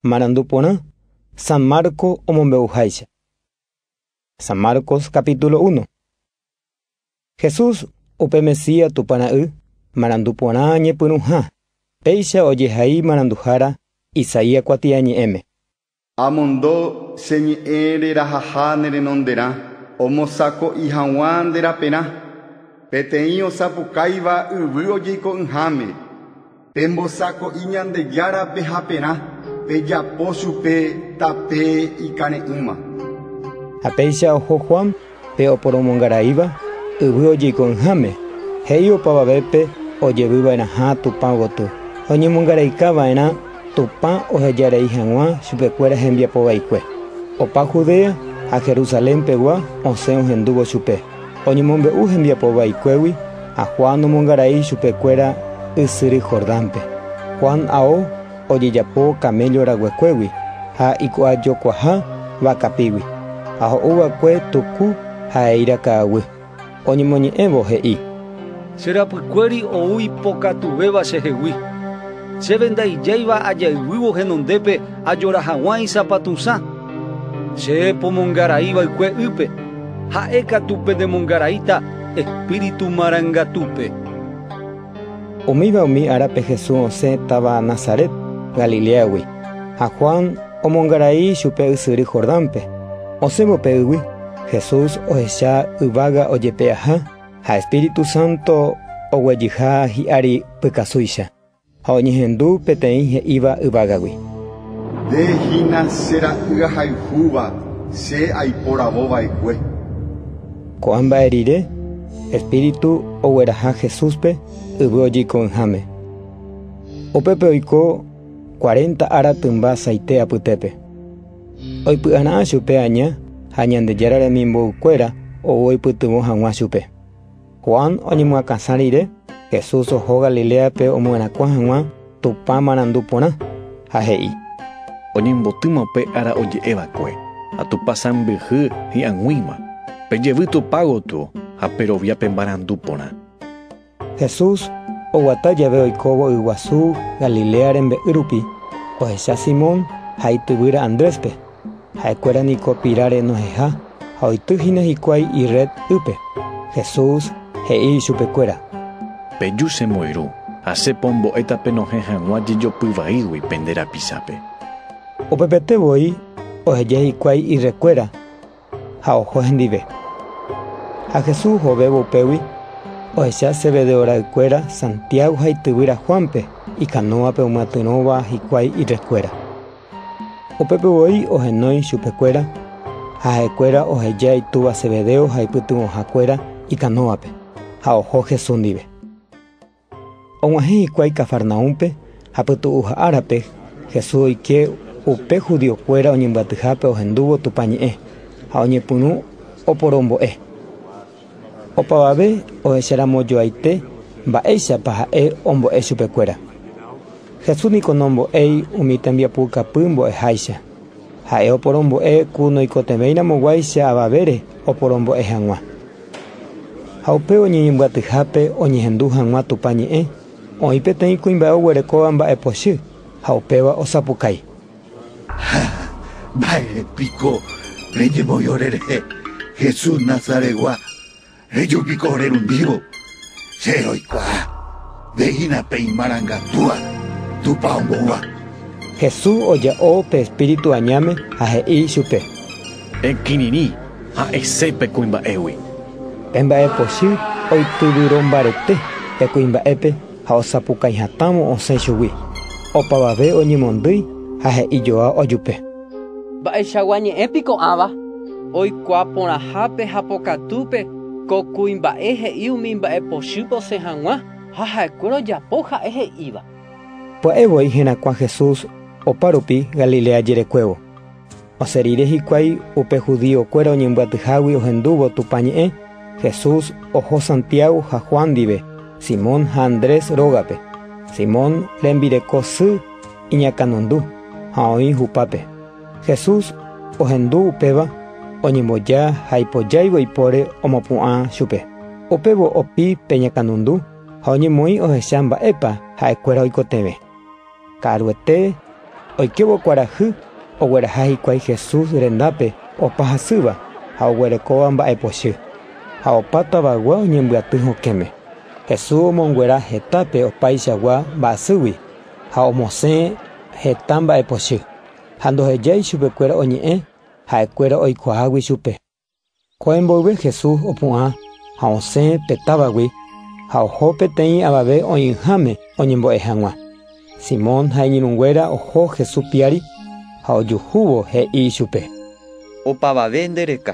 Marandu porã San Marco omombe'uháicha. San Marcos capítulo uno. Jesús, upe Mesías Tupã Ra'y, marandu porã ñepyrũha, péicha ojehai maranduhára Isaías kuatiañe'ẽme. Amondo che ñe'ẽ rerahaha ne renonderã, omosako'i haguã nde raperã, peteĩ osapukáiva yvy ojeiko'ỹháme. Pembosako'i Ñandejárape haperã, pejapo chupe tape ikare'ỹva. Ha péicha oho Juan pe oporomongaraíva yvy ojeiko'ỹháme, he'i opavavépe ojevy va'erãha Tupã gotyo, oñemongaraika va'erã Tupã oheja rei hag̃ua chupekuéra hembiapo vaikue. Opa Judea ha Jerusalén pegua osẽ ohendúvo chupe. Oñemombe'u hembiapo vaikuégui ha Juan nomongarai ichupe kuéra ysyry Jordánpe. Juan ao ojejapo kaméllo raguekuégui ha iku'a jokuaha vakapígui, ha ho'u vakue tuku ha eíra ka'aguy. Oñemoñe'ẽvo he'i. Che rapykuéri ou ipokatuvéva chehegui. Chéve ndaijáiva ajayguývo henondépe ajora haguã isapatusã. Che pomongarai vaikue ýpe, ha'e katu pendemongaraíta espíritu marangatúpe. Umíva umi árape Jesús osẽ táva Nazaret, Galiléagui, ha Juan omongarai chupe ysyry Jordánpe. Osẽvo pe ýgui, Jesús ohecha yvága ojepe'aha. Ha Espíritu Santo oguejyha hi'ári pykasúicha, ha oñehendu peteĩ he'íva yvágagui: “Nde hína che Ra'y ahayhúva, che aiporavo va'ekue”. Ko'ã mba'e rire, Espíritu ogueraha Jesúspe yvy ojyko'ỹháme. Upépe oiko cuarenta ára tymba saite apytépe. Oipy'ara'ã chupe aña ha Ñandejára remimboykuéra ou oipytyvõ hag̃ua chupe. Juan oñemyakãsa rire, Jesús oho Galiléape omyerakuã hag̃ua Tupã marandu porã, ha he'i: Oñembotýma upe ára oje'e va'ekue, ha Tupã sãmbyhy hi'ag̃uíma. Pejevy Tupã gotyo ha perovia pe marandu porã. Jesús oguata jave oikóvo yguasu Galilea rembe'y rupi, ohecha Simón ha ityvýra Andréspe. Ha'ekuéra niko piráre noheja ha oity hína hikuái irréd ýpe. Jesús he'i ichupekuéra. Peju che moyru, asẽ pombo'éta penohẽ hag̃ua jejopy vaígui pende rapichápe. Upepete voi oheja hikuái irrédkuéra. ha oho hendive. Ha Jesús ohovévo upégui, ohecha Zebedeo ra'ykuéra Santiago ha ityvýra Juánpe ikanóvape omyatyrõva hikuái irrekuéra. Upépe voi ohenói chupekuéra, ha ha'ekuéra ohejea itúva Zebedeo ha ipytyvõhakuéra ikanóvape, ha oho Jesús ndive. Og̃uahẽ hikuái Cafarnaúmpe, ha pytu'uha árape, Jesús oike upe judiokuéra oñembyatyhápe ohendúvo Tupã ñe'ẽ ha oñepyrũ oporombo'e. Opavave ohecheramojoaite mba'éichapa ha'e ombo'e chupekuéra. Jesús niko nombo'éi umi tembiapukapy mbo'eháicha. Ha'e oporombo'e ku noikotevẽiramo guáicha avavére oporombo'e hag̃ua. Ha upévo ñeñembyatyhápe oñehendu hag̃ua Tupã ñe'ẽ, oĩ peteĩ kuimba'e oguerekóva mba'epochy ha upéva osapukái. Ha mba'ére piko reñemoĩ ore rehe, Jesús Nazaretgua? Reju piko rerundívo, che roikuaa nde hína pe imarangatúva Tupã ombouva. Jesús oja'o pe espíritu añáme ha he'i ichupe. Ekirirĩ ha ese pe kuimba'égui. Pe mba'epochy oityvyro mbarete pe kuimba'épe ha osapukãi hatãvo osẽ chugui. Opavave oñemondýi ha he'i joao ajupe. Mba'eichagua ñe'ẽ piko ãva oikuaa porãhápe ha pokatúpe ko kuimba'e he'i umi mba'epochýpe osẽ hag̃ua ha ha'ekuéra ojapo ha'e he'íva. Pya'e voi herakuã Jesús opa rupi Galilea jerekuévo. Osẽ rire hikuái upe judíokuéra oñembyatyhágui ohendúvo Tupã ñe'ẽ, Jesús oho Santiago ha Juan ndive, Simón ha Andrés rógape, Simón rembireko sy, iñakãnundu ha oĩ hupápe. Jesús ohendu upéva oñemboja ha ipojáivo ipóre omopu'ã chupe. Upévo opi pe ñakãnundu ha oñemoĩ ohecha mba'épa ha'ekuéra oikotevẽ. Ka'aruete oikévo kuarahy ogueraha hikuái Jesús rendápe opa hasýva ha oguerekóva mba'epochy, ha opa tavagua oñembyaty hokẽme. Jesús omonguera hetápe opaichagua mba'asýgui. ha omosẽ heta mba'e pochy, ha ndoheja ichupekuéra oñe'ẽ ha'ekuéra oikuaágui chupe. Kóe mboyve Jesús opu'ã ha osẽ pe távagui ha oho peteĩ avave oĩháme oñembo'e hag̃ua. Simón ha iñirũnguéra oho Jesús piári ha ojuhúvo, he'i ichupe: “Opavave nde reka.”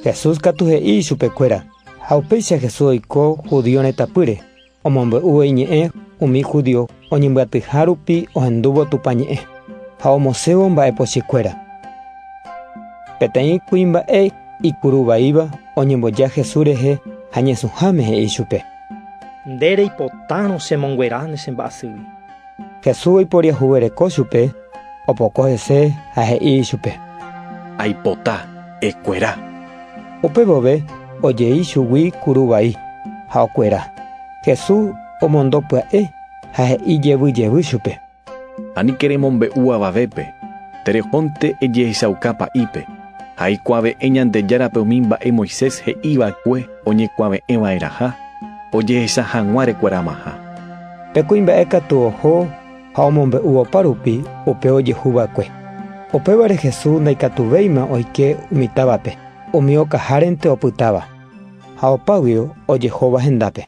Jesús katu he'i ichupekuéra. Ha upéicha Jesús oiko Judio retãpýre. Omombe'úvo iñe'ẽ umi judío oñembyatyha rupi ohendúvo Tupã ñe'ẽ ha omosẽvo mba'e pochýkuéra. Peteĩ kuimba'e ikuru vaíva oñemboja Jesús rehe ha ñesũháme he'i chupe. Nde reipotárõ chemonguera ne chemba'asýgui. Jesús oiporiahuvereko chupe, opoko hese ha he'i ichupe: “Aipota, ekuera!” Upe vove ojei chugui kuru vai, ha okuera. Jesús omondo pya'e ha he'i jevy jevy chupe: “Aníke remombe'u avavépe, terehónte ejehechauka pa'ípe, ha aikuave'ẽ Ñandejárape umi mba'e Moisés he'i va'ekue oñekuave'ẽ va'erãha ojehecha hag̃ua rekueramaha. Pe kuimba'e katu oho ha omombe'u opa rupi upe ojehu va'ekue. Upévare Jesús ndaikatuvéima oike umi távape, umi okahárente opytáva ha opáguio ojehóva hendápe.